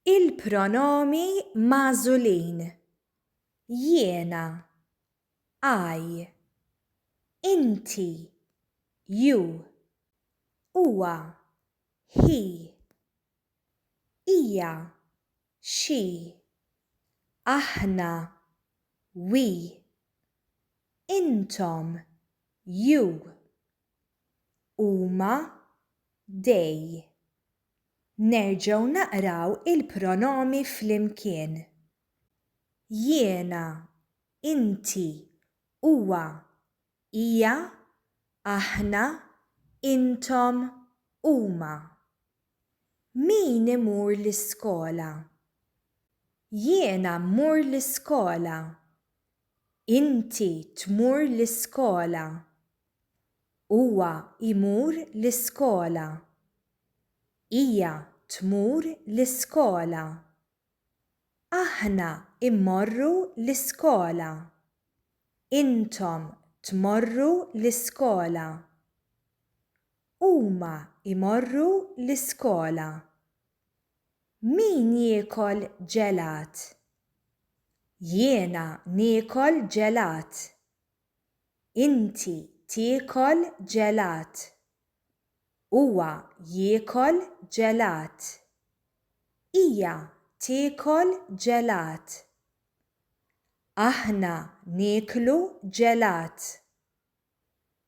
Il-pronomi magħżulin, jiena, I, inti, you, huwa, he, hija, she, aħna, we, intom, you, huma, they. Nerġgħu naqraw il-pronomi flimkien, jiena, inti, huwa, hija, aħna, intom, huma. Min imur l-iskola? Jiena mmur l-iskola. Inti tmur l-iskola. Huwa jmur l-iskola. Hija tmur l-iskola. Aħna mmorru l-iskola. Intom tmorru l-iskola. Huma jmorru l-iskola. Min jiekol ġelat? Jiena niekol ġelat. Inti tiekol ġelat. Huwa jiekol ġelat. Hija tiekol ġelat. Aħna nieklu ġelat.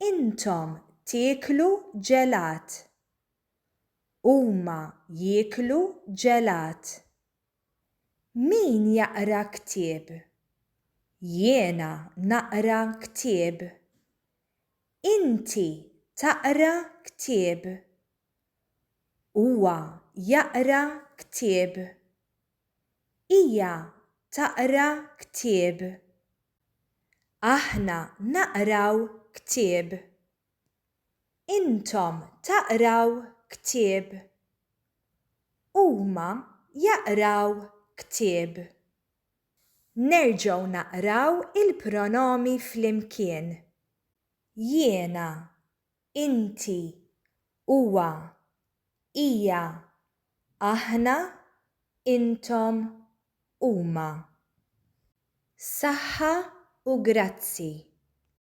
Intom tieklu ġelat. Huma jieklu ġelat. Min jaqra ktieb? Jiena naqra ktieb. Inti taqra ktieb. Huwa jaqra ktieb. Hija taqra ktieb. Aħna naqraw ktieb. Intom taqraw ktieb. Huma jaqraw ktieb. Nerġgħu naqraw il-pronomi flimkien, jiena, inti, huwa, hija, aħna, intom, huma. Saħħa u grazzi.